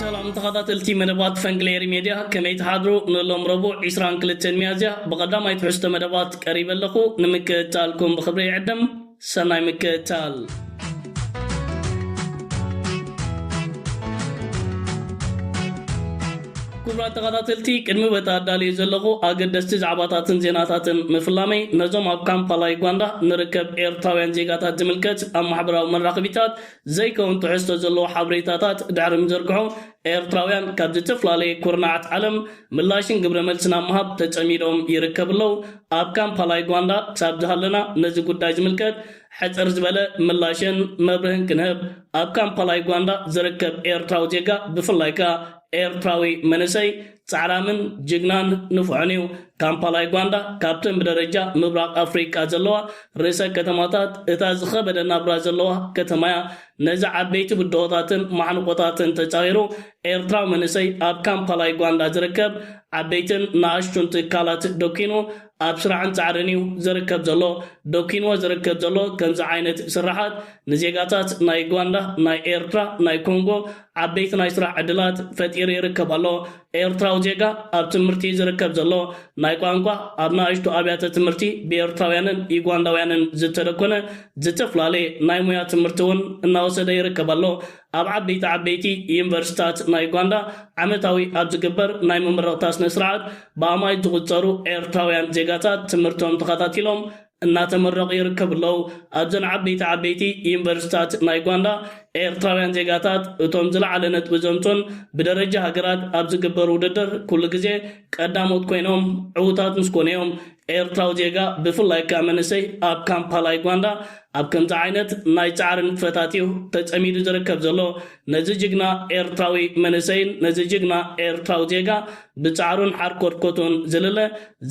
ሰላም ተኸታተልቲ መደባት ፈንግሌሪ ሜድያ ከመይ ትሓድሩ ንሎም ረቡዕ 22 ሚያዝያ ብቐዳማይ ትሕዝቶ መደባት ቀሪበ ኣለኹ ንምክእታልኩም ብክብሪ ይዕድም ሰናይ ምክእታል ክቡራት ተኸታተልቲ ቅድሚ በቲ ኣዳልዮ ዘለኹ ኣገደስቲ ዛዕባታትን ዜናታትን ምፍላመይ ነዞም ኣብ ካምፓላ ዩጋንዳ ንርከብ ኤርትራውያን ዜጋታት ዝምልከት ኣብ ማሕበራዊ መራኽቢታት ዘይከውን ትሕዝቶ ዘለዎ ሓብሬታታት ድሕሪ ምዝርግሑ ኤርትራውያን ካብ ዝትፍላለየ ኩርናዓት ዓለም ምላሽን ግብረ መልስን ኣብ ምሃብ ተጸሚዶም ይርከቡ ኣለው ኣብ ካምፓላ ዩጋንዳ ክሳብ ዝሃለና ነዚ ጉዳይ ዝምልከት ሕጽር ዝበለ ምላሽን መብርህን ክንህብ ኣብ ካምፓላ ዩጋንዳ ዝርከብ ኤርትራዊ ዜጋ ብፍላይ ከኣ ኤርትራዊ መንእሰይ ጻዕራምን ጅግናን ንፉዕን እዩ። ካምፓላ ዩጋንዳ ካብተን ብደረጃ ምብራቕ ኣፍሪቃ ዘለዋ ርእሰ ከተማታት እታ ዝኸበደ ናብራ ዘለዋ ከተማ እያ። ነዚ ዓበይቲ ብድሆታትን ማሕንቖታትን ተጻዊሩ ኤርትራዊ መንእሰይ ኣብ ካምፓላ ዩጋንዳ ዝርከብ ዓበይትን ንኣሽቱን ትካላት ደኲኑ ኣብ ስራሕን ጻዕርን እዩ ዝርከብ ዘሎ። ደኲንዎ ዝርከብ ዘሎ ከምዚ ዓይነት ስርሓት ንዜጋታት ናይ ዩጋንዳ፣ ናይ ኤርትራ፣ ናይ ኮንጎ፣ ዓበይቲ ናይ ስራሕ ዕድላት ፈጢሩ ይርከብ ኣሎ። ኤርትራዊ ዜጋ ኣብ ትምህርቲ እዩ ዝርከብ ዘሎ። ናይ ቋንቋ ኣብ ንኣሽቱ ኣብያተ ትምህርቲ ብኤርትራውያንን ዩጋንዳውያንን ዝተደኮነ ዝተፍላለየ ናይ ሙያ ትምህርቲ እውን እናወሰደ ይርከብ ኣሎ። ኣብ ዓበይቲ ዓበይቲ ዩኒቨርሲቲታት ናይ ዩጋንዳ ዓመታዊ ኣብ ዝግበር ናይ መመረቕታ ስነ ስርዓት ብኣማኢት ዝቑጸሩ ኤርትራውያን ዜጋታት ትምህርቶም ተኸታቲሎም እናተመረቑ ይርከቡ ኣለዉ። ኣብዘን ዓበይቲ ዓበይቲ ዩኒቨርሲቲታት ናይ ጓንዳ፣ ኤርትራውያን ዜጋታት እቶም ዝለዓለ ነጥቢ ዘምጹን ብደረጃ ሃገራት ኣብ ዝግበር ውድድር ኩሉ ግዜ ቀዳሞት ኮይኖም ዕዉታት ምስ ኮኑ እዮም። ኤርትራዊ ዜጋ ብፍላይ ከኣ መንእሰይ ኣብ ካምፓላ ዩጓንዳ ኣብ ከምዚ ዓይነት ናይ ጻዕሪ ንጥፈታት እዩ ተጸሚዱ ዝርከብ ዘሎ። ነዚ ጅግና ኤርትራዊ መንእሰይን ነዚ ጅግና ኤርትራዊ ዜጋ ብጻዕሩን ሓርኮትኮቱን ዝልለ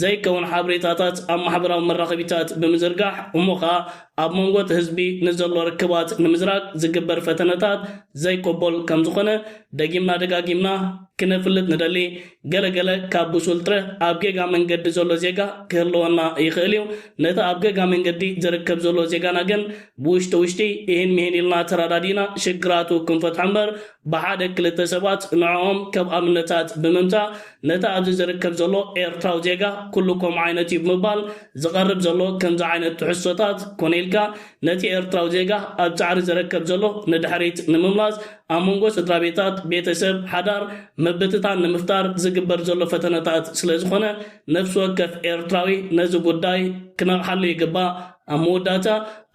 ዘይከውን ሓበሬታታት ኣብ ማሕበራዊ መራኸቢታት ብምዝርጋሕ እሞ ከኣ ኣብ መንጎ'ቲ ህዝቢ ንዘሎ ርክባት ንምዝራግ ዝግበር ፈተነታት ዘይቅቡል ከም ዝኾነ ደጊምና ደጋጊምና ክነፍልጥ ንደሊ። ገለ ገለ ካብ ብሱል ጥረ ኣብ ጌጋ መንገዲ ዘሎ ዜጋ ክህልወና ይኽእል እዩ። ነቲ ኣብ ገጋ መንገዲ ዝርከብ ዘሎ ዜጋና ግን ብውሽጢ ውሽጢ ኢሂን ምሂን ኢልና ተራዳዲእና ሽግራቱ ክንፈትሖ እምበር ብሓደ ክልተ ሰባት ንዕኦም ከም ኣብነታት ብምምጻእ ነቲ ኣብዚ ዝርከብ ዘሎ ኤርትራዊ ዜጋ ኩሉ ከምኡ ዓይነት እዩ ብምባል ዝቐርብ ዘሎ ከምዚ ዓይነት ትሕዝቶታት ኮነ ኢልካ ነቲ ኤርትራዊ ዜጋ ኣብ ጻዕሪ ዝረከብ ዘሎ ንድሕሪት ንምምላስ ኣብ መንጎ ስድራቤታት ቤተሰብ ሓዳር ምብትታን ንምፍጣር ዝግበር ዘሎ ፈተነታት ስለዝኾነ ነፍሲ ወከፍ ኤርትራዊ ነዚ ጉዳይ ክነቕሓሉ ይግባእ። ኣብ መወዳእታ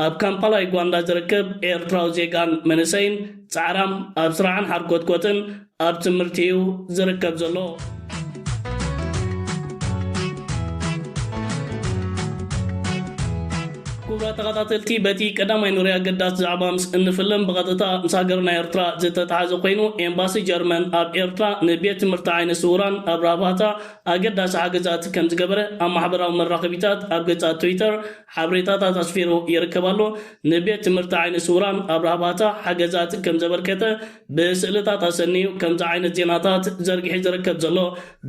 ኣብ ካምፓላ ዩጋንዳ ዝርከብ ኤርትራዊ ዜጋን መንእሰይን ጻዕራም ኣብ ስራዕን ሓርኮትኮትን ኣብ ትምህርቲ እዩ ዝርከብ ዘሎ። ክቡራት ተኸታተልቲ በቲ ቀዳማይ ንሪኦ ኣገዳሲ ዛዕባ ምስ እንፍልም ብቐጥታ ምስ ሃገርና ኤርትራ ዝተተሓዘ ኮይኑ ኤምባሲ ጀርመን ኣብ ኤርትራ ንቤት ትምህርቲ ዓይነ ስውራን ኣብ ራባታ ኣገዳሲ ሓገዛት ከም ዝገበረ ኣብ ማሕበራዊ መራኸቢታት ኣብ ገጻት ትዊተር ሓበሬታታት ኣስፊሩ ይርከብ ኣሎ። ንቤት ትምህርቲ ዓይነ ስውራን ኣብ ራህባታ ሓገዛት ከም ዘበርከተ ብስእልታት ኣሰንዩ ከምዚ ዓይነት ዜናታት ዘርጊሒ ዝርከብ ዘሎ።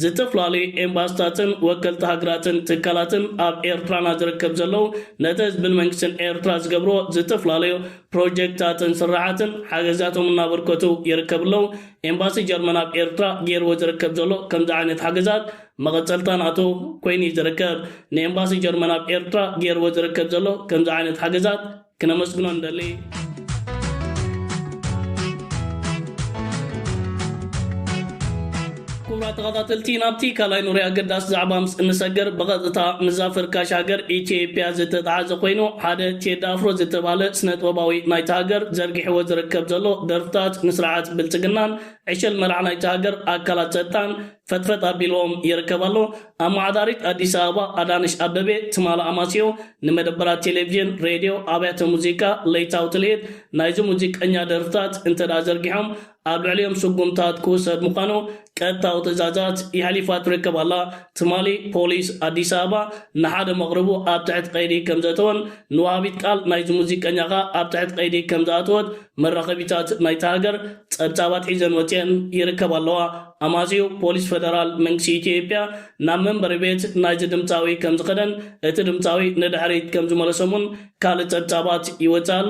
ዝተፈላለዩ ኤምባስታትን ወከልቲ ሃገራትን ትካላትን ኣብ ኤርትራና ዝርከብ ዘለው ነቲ ህዝብን መንግስትን ኤርትራ ዝገብርዎ ዝተፈላለዩ ፕሮጀክታትን ስርሓትን ሓገዛቶም እናበርከቱ ይርከብለው። ኤምባሲ ጀርመን ኣብ ኤርትራ ጌርዎ ዝርከብ ዘሎ ከምዚ ዓይነት ሓገዛት መቐጸልታ ናቱ ኮይኑ እዩ ዝርከብ። ንኤምባሲ ጀርመን ኣብ ኤርትራ ጌርዎ ዝርከብ ዘሎ ከምዚ ዓይነት ሓገዛት ክነመስግኖ ንደሊ። ተኸታተልቲ ናብቲ ካልኣይ ኑሪ ኣገዳሲ ዛዕባ ምስ እንሰግር ብቐጥታ ምስዛ ፈርካሽ ሃገር ኢትዮጵያ ዝተተሓዘ ኮይኑ ሓደ ቴዲ ኣፍሮ ዝተባህለ ስነጥበባዊ ናይታ ሃገር ዘርጊሕዎ ዝርከብ ዘሎ ደርፍታት ንስርዓት ብልጽግናን ዕሸል መራሕ ናይታ ሃገር ኣካላት ጸጥታን ፈጥፈጥ ኣቢልዎም ይርከብ ኣሎ። ኣመሓዳሪት ኣዲስ ኣበባ ኣዳነሽ ኣበቤ ትማል ኣማስዮ ንመደበራት ቴሌቭዥን፣ ሬድዮ፣ ኣብያተ ሙዚቃ ለይታዊ ትልሂት ናይዚ ሙዚቀኛ ደርፍታት እንተድኣ ዘርጊሖም ኣብ ልዕሊኦም ስጉምታት ክውሰድ ምዃኑ ቀጥታዊ ትእዛዛት የሕሊፋ ትርከብ ኣላ። ትማሊ ፖሊስ ኣዲስ ኣበባ ንሓደ መቕርቡ ኣብ ትሕቲ ቀይዲ ከምዘእተወን ንወሃቢት ቃል ናይዚ ሙዚቀኛ ከኣ ኣብ ትሕቲ ቀይዲ ከምዝኣተወት መራኸቢታት ናይታ ሃገር ጸብጻባት ሒዘን ወጺኤን ይርከባ ኣለዋ። ኣማጺኡ ፖሊስ ፈደራል መንግስቲ ኢትዮጵያ ናብ መንበሪ ቤት ናይዚ ድምጻዊ ከምዝኸደን እቲ ድምጻዊ ንድሕሪት ከምዝመለሶም'ውን ካልእ ጸብጻባት ይወጽእ ኣሎ።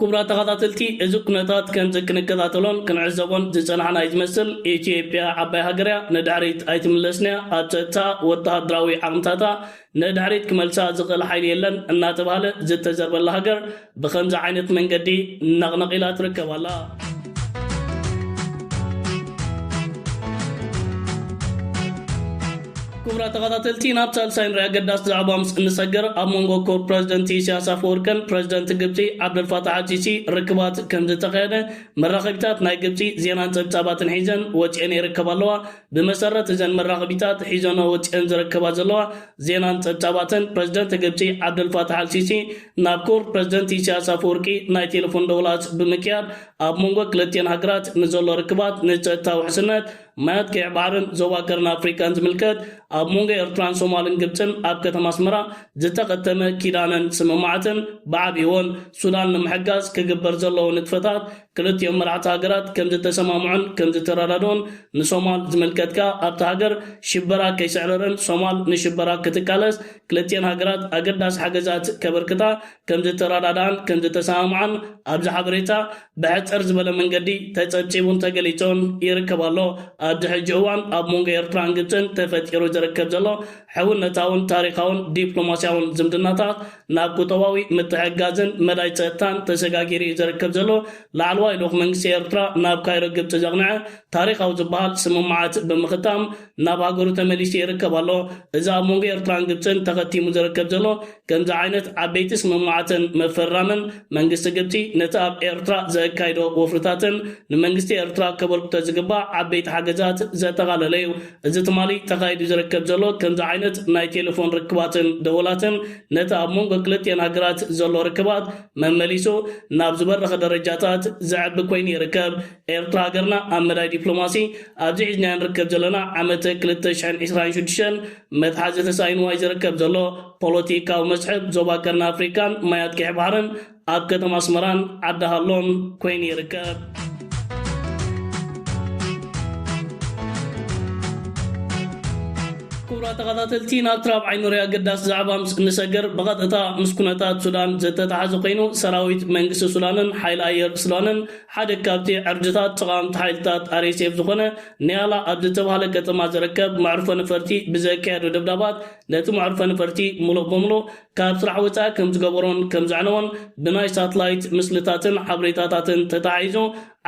ክቡራት ተኻታተልቲ እዚ ኩነታት ከምዚ ክንከታተሎን ክንዕዘቦን ዝጸናሕና እዩ ዝመስል። ኢትዮጵያ ዓባይ ሃገር እያ ንድሕሪት ኣይትምለስን እያ፣ ኣብ ጸጥታኣ ወተሃደራዊ ዓቕምታታ ንድሕሪት ክመልሳ ዝኽእል ሓይሊ የለን እናተባህለ ዝተዘርበላ ሃገር ብኸምዚ ዓይነት መንገዲ ነቕነቕ ኢላ ትርከብ ኣላ። ክቡራት ተኸታተልቲ ናብ ሳልሳይ ንሪኣ ኣገዳሲ ዛዕባ ምስ እንሰገር ኣብ መንጎ ክቡር ፕረዚደንት ኢሳያስ ኣፈወርቅን ፕረዚደንት ግብፂ ዓብደልፋታሕ ኣልሲሲ ርክባት ከምዝተኻየደ መራኸቢታት ናይ ግብፂ ዜናን ፀብፃባትን ሒዘን ወፂኤን ይርከባ ኣለዋ። ብመሰረት እዘን መራኸቢታት ሒዘንኦ ወፂኤን ዝርከባ ዘለዋ ዜናን ፀብፃባትን ፕረዚደንት ግብፂ ዓብደልፋታሕ ኣልሲሲ ናብ ክቡር ፕረዚደንት ኢሳያስ ኣፈወርቂ ናይ ቴለፎን ደውላት ብምክያድ ኣብ መንጎ ክልቲኤን ሃገራት ንዘሎ ርክባት ንፀጥታ ውሕስነት ማያት ቀይሕ ባሕርን ዞባ ቀርኒ ኣፍሪቃን ዝምልከት ኣብ መንጎ ኤርትራን ሶማልን ግብጽን ኣብ ከተማ ኣስመራ ዝተኸተመ ኪዳነን ስምምዓትን ብዓቢኡ'ውን ሱዳን ንምሕጋዝ ክግበር ዘለዎ ንጥፈታት ክልቲኦም መራሕቲ ሃገራት ከምዝተሰማምዑን ከምዝተረዳድኡን ንሶማል ዝምልከት ከኣ ኣብታ ሃገር ሽበራ ከይስዕርርን ሶማል ንሽበራ ክትቃለስ ክልቲኤን ሃገራት ኣገዳሲ ሓገዛት ከበርክታ ከምዝተረዳድኣን ከምዝተሰማምዓን ኣብዚ ሓበሬታ ብሕጽር ዝበለ መንገዲ ተጸብጺቡን ተገሊጹን ይርከብ ኣሎ። ኣብዚ ሕጂ እዋን ኣብ መንጎ ኤርትራን ግብጽን ተፈጢሩ ዝርከብ ዘሎ ሕውነታውን ታሪኻውን ዲፕሎማስያውን ዝምድናታት ናብ ቁጠባዊ ምትሕግጋዝን መዳይ ጸጥታን ተሰጋጊሩ ኢዩ ዝርከብ ዘሎ። ላዕለዋይ ልኡኽ መንግስቲ ኤርትራ ናብ ካይሮ ግብጺ ዘቕነዐ ታሪኻዊ ዝበሃል ስምምዓት ብምኽታም ናብ ሃገሩ ተመሊሱ ይርከብ ኣሎ። እዚ ኣብ መንጎ ኤርትራን ግብጽን ተኸቲሙ ዝርከብ ዘሎ ከምዚ ዓይነት ዓበይቲ ስምምዓትን ምፍርራምን፣ መንግስቲ ግብጺ ነቲ ኣብ ኤርትራ ዘካይዶ ወፍርታትን ንመንግስቲ ኤርትራ ከበርክቶ ዝግባእ ዓበይቲ ሓገዛት ዘጠቓለለ'ዩ። እዚ ትማሊ ተኻይዱ ዝርከብ ዘሎ ከምዚ ዓይነት ናይ ቴለፎን ርክባትን ደወላትን ነቲ ኣብ መንጎ ክልቲኤን ሃገራት ዘሎ ርክባት መመሊሱ ናብ ዝበረኸ ደረጃታት ዘዕቢ ኮይኑ ይርከብ። ኤርትራ ሃገርና ኣብ መዳይ ዲፕሎማሲ ኣብዚ ሒዝናዮ ንርከብ ዘለና ዓመተ ክልተ ሽሕን ዕስራን ሽዱሽተን መትሓዚ ተሳኢንዋ እዩ ዝርከብ ዘሎ። ፖለቲካዊ መስሕብ ዞባ ቀርኒ ኣፍሪቃን ማያት ቀይሕ ባሕርን ኣብ ከተማ ኣስመራን ዓዲ ሃሎን ኮይኑ ይርከብ። ክቡራት ተኸታተልቲ ናብቲ ራብዓይ ኑሪ ኣገዳሲ ዛዕባ ምስ እንሰግር ብቐጥታ ምስ ኩነታት ሱዳን ዝተተሓዘ ኮይኑ ሰራዊት መንግስቲ ሱዳንን ሓይሊ ኣየር ሱዳንን ሓደ ካብቲ ዕርድታት ተቓወምቲ ሓይልታት RSF ዝኾነ ኒያላ ኣብ ዝተብሃለ ከተማ ዝርከብ መዕርፎ ነፈርቲ ብዘካየዶ ደብዳባት ነቲ መዕርፎ ነፈርቲ ምሉእ ብምሉእ ካብ ስራሕ ወጻኢ ከምዝገበሮን ከምዘዕነዎን ብናይ ሳትላይት ምስልታትን ሓበሬታታትን ተተሓሒዙ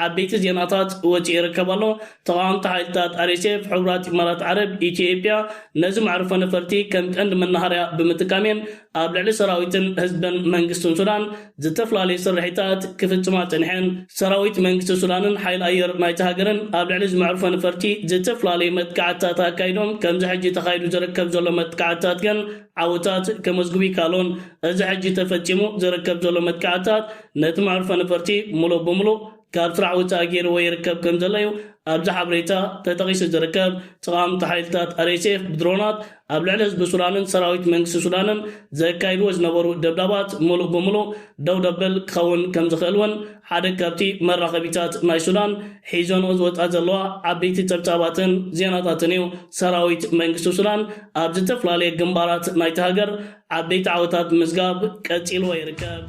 ዓበይቲ ዜናታት ወጺኡ ይርከብ ኣሎ። ተቓወምቲ ሓይልታት RSF ሕቡራት ኢማራት ዓረብ ኢትዮ-ኤጵያ ነዚ መዕርፎ ነፈርቲ ከም ቀንዲ መናሃርያ ብምጥቃም እየን ኣብ ልዕሊ ሰራዊትን ህዝብን መንግስትን ሱዳን ዝተፈላለዩ ስርሒታት ክፍጽማ ጸኒሐን። ሰራዊት መንግስቲ ሱዳንን ሓይሊ ኣየር ናይታ ሃገርን ኣብ ልዕሊ እዚ መዕርፎ ነፈርቲ ዝተፈላለዩ መጥቃዕትታት ኣካይዶም፣ ከምዚ ሕጂ ተኻይዱ ዝርከብ ዘሎ መጥቃዕትታት ግን ዓወታት ከመዝግቡ ኣይከኣሉን። እዚ ሕጂ ተፈጺሙ ዝርከብ ዘሎ መጥቃዕትታት ነቲ መዕርፎ ነፈርቲ ምሉእ ብምሉእ ካብ ስራሕ ወጻኢ ገይርዎ ይርከብ ከምዘሎ'ዩ ኣብዚ ሓበሬታ ተጠቒሱ ዝርከብ። ጸቓምቲ ሓይልታት RSF ብድሮናት ኣብ ልዕሊ ህዝቢ ሱዳንን ሰራዊት መንግስቲ ሱዳንን ዘካይድዎ ዝነበሩ ደብዳባት ምሉእ ብምሉእ ደው ዘብል ክኸውን ከምዝኽእል'ውን ሓደ ካብቲ መራኸቢታት ናይ ሱዳን ሒዘንኦ ዝወጽኣ ዘለዋ ዓበይቲ ጸብጻባትን ዜናታትን'ዩ። ሰራዊት መንግስቲ ሱዳን ኣብ ዝተፈላለየ ግንባራት ናይታ ሃገር ዓበይቲ ዓወታት ምዝጋብ ቀጺልዎ ይርከብ።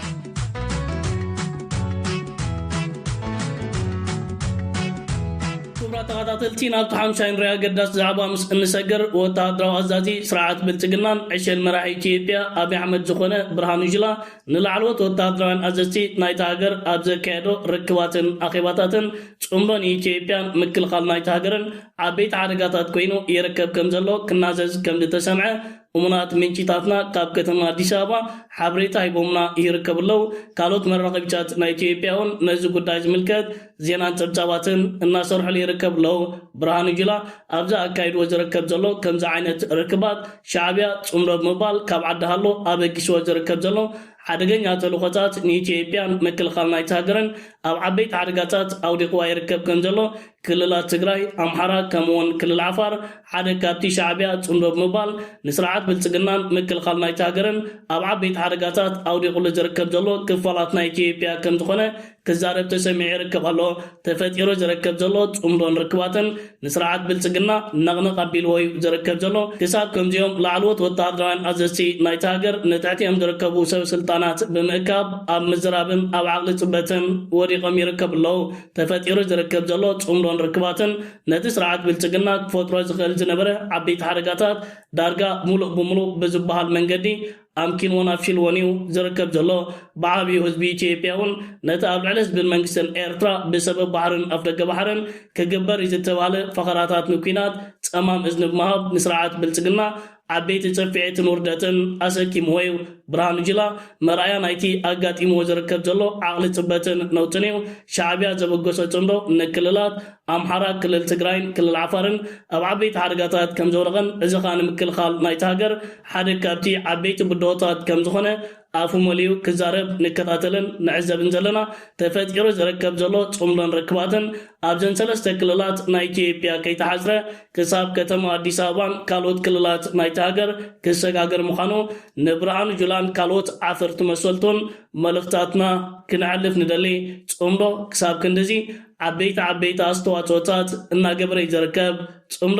ክቡራት ተኸታተልቲ ናብቲ ሓምሻይ ንሪኦ ኣገዳሲ ዛዕባ ምስ እንሰግር ወተሃደራዊ ኣዛዚ ስርዓት ብልጽግናን ዕሸል መራሒ ኢትዮጵያ ኣብይ ኣሕመድ ዝኾነ ብርሃኑ ጁላ ንላዕለዎት ወተሃደራውያን ኣዘዝቲ ናይታ ሃገር ኣብ ዘካየዶ ርክባትን ኣኼባታትን ጽምዶ ንኢትዮጵያን ምክልኻል ናይታ ሃገርን ዓበይቲ ሓደጋታት ኮይኑ ይርከብ ከምዘሎ ክናዘዝ ከምዝተሰምዐ እሙናት ምንጪታትና ካብ ከተማ ኣዲስ ኣበባ ሓብሬታ ሂቦምና ይርከቡ ኣለው። ካልኦት መራኸቢታት ናይ ኢትዮጵያ እውን ነዚ ጉዳይ ዝምልከት ዜናን ጸብጻባትን እናሰርሑሉ ይርከቡ ኣለው። ብርሃኑ ጁላ ኣብዚ ኣካይድዎ ዝርከብ ዘሎ ከምዚ ዓይነት ርክባት ሻዕብያ ጽምዶ ብምባል ካብ ዓዲ ሃሎ ኣበጊስዎ ዝርከብ ዘሎ ሓደገኛ ተልእኾታት ንኢትዮጵያን ምክልኻል ናይታ ሃገርን ኣብ ዓበይቲ ሓደጋታት ኣውዲቕዋ ይርከብ ከምዘሎ ክልላት ትግራይ፣ ኣምሓራ ከምኡ'ውን ክልል ዓፋር ሓደ ካብቲ ሻዕቢያ ጽምዶ ብምባል ንስርዓት ብልጽግናን ምክልኻል ናይታ ሃገርን ኣብ ዓበይቲ ሓደጋታት ኣውዲቑሉ ዝርከብ ዘሎ ክፋላት ናይ ኢትዮጵያ ከምዝኾነ ክዛረብ ተሰሚዑ ይርከብ ኣሎ። ተፈጢሩ ዝርከብ ዘሎ ጽምዶን ርክባትን ንስርዓት ብልጽግና ነቕነቕ ኣቢልዎ'ዩ ዝርከብ ዘሎ። ክሳብ ከምዚኦም ላዕለዎት ወተሃደራውያን ኣዘዝቲ ናይታ ሃገር ንትሕቲኦም ዝርከቡ ሰበስልጣናት ብምእካብ ኣብ ምዝራብን ኣብ ዓቕሊ ጽበትን ወዲቖም ይርከቡ ኣለዉ። ተፈጢሩ ዝርከብ ዘሎ ጽምዶን ርክባትን ነቲ ስርዓት ብልጽግና ክፈጥሮ ዝኽእል ዝነበረ ዓበይቲ ሓደጋታት ዳርጋ ምሉእ ብምሉእ ብዝበሃል መንገዲ ኣምኪንዎን ኣፍሽልዎን እዩ ዝርከብ ዘሎ። ብዓብዩ ህዝቢ ኢትዮጵያ እውን ነቲ ኣብ ልዕሊ ህዝብን መንግስትን ኤርትራ ብሰበብ ባሕርን ኣፍደገ ባሕርን ክግበር እዩ ዝተባህለ ፈኸራታት ንኲናት ጸማም እዝኒ ብምሃብ ንስርዓት ብልጽግና ዓበይቲ ጽፍዒትን ውርደትን ኣሰኪምዎ'ዩ። ብርሃኑ ጁላ መርኣያ ናይቲ ኣጋጢምዎ ዝርከብ ዘሎ ዓቕሊ ጽበትን ነውጥን'ዩ። ሻዕብያ ዘበገሶ ጽምዶ ንክልላት ኣምሓራ፣ ክልል ትግራይን ክልል ዓፋርን ኣብ ዓበይቲ ሓደጋታት ከምዘውደቐን እዚ ከኣ ንምክልኻል ናይታ ሃገር ሓደ ካብቲ ዓበይቲ ብድሆታት ከምዝኾነ ኣፉ መሊኡ ክዛረብ ንከታተልን ንዕዘብን ዘለና፣ ተፈጢሩ ዝርከብ ዘሎ ጽምዶን ርክባትን ኣብዘን ሰለስተ ክልላት ናይ ኢትዮጵያ ከይተሓጽረ ክሳብ ከተማ ኣዲስ ኣበባን ካልኦት ክልላት ናይታ ሃገር ክሰጋገር ምዃኑ ንብርሃኑ ጁላን ካልኦት ዓፈርቲ መሰልቱን መልእኽታትና ክነሕልፍ ንደሊ። ጽምዶ ክሳብ ክንድዚ ዓበይቲ ዓበይቲ ኣስተዋጽኦታት እናገበረ'ዩ ዝርከብ። ጽምዶ!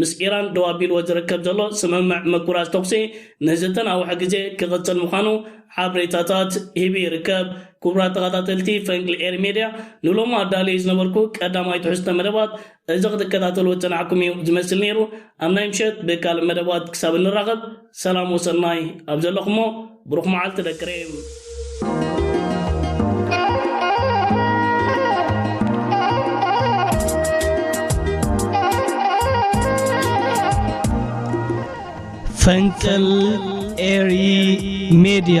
ምስ ኢራን ደው ኣቢልዎ ዝርከብ ዘሎ ስምምዕ ምቁራጽ ተኹሲ ንዝተናውሐ ግዜ ክቕጽል ምዃኑ ሓበሬታታት ሂቡ ይርከብ። ክቡራት ተኸታተልቲ ፈንቅል ኤሪ ሜድያ ንሎሚ ኣዳልየዮ ዝነበርኩ ቀዳማይ ትሕዝቶ መደባት እዚ ክትከታተልዎ ዝጸናሕኩም እዩ ዝመስል ነይሩ። ኣብ ናይ ምሸት ብካልእ መደባት ክሳብ እንራኸብ፣ ሰላም ወሰናይ ኣብ ዘለኹሞ ብሩኽ መዓልቲ ደቂ ሬም። ፈንቅል ኤሪ ሜድያ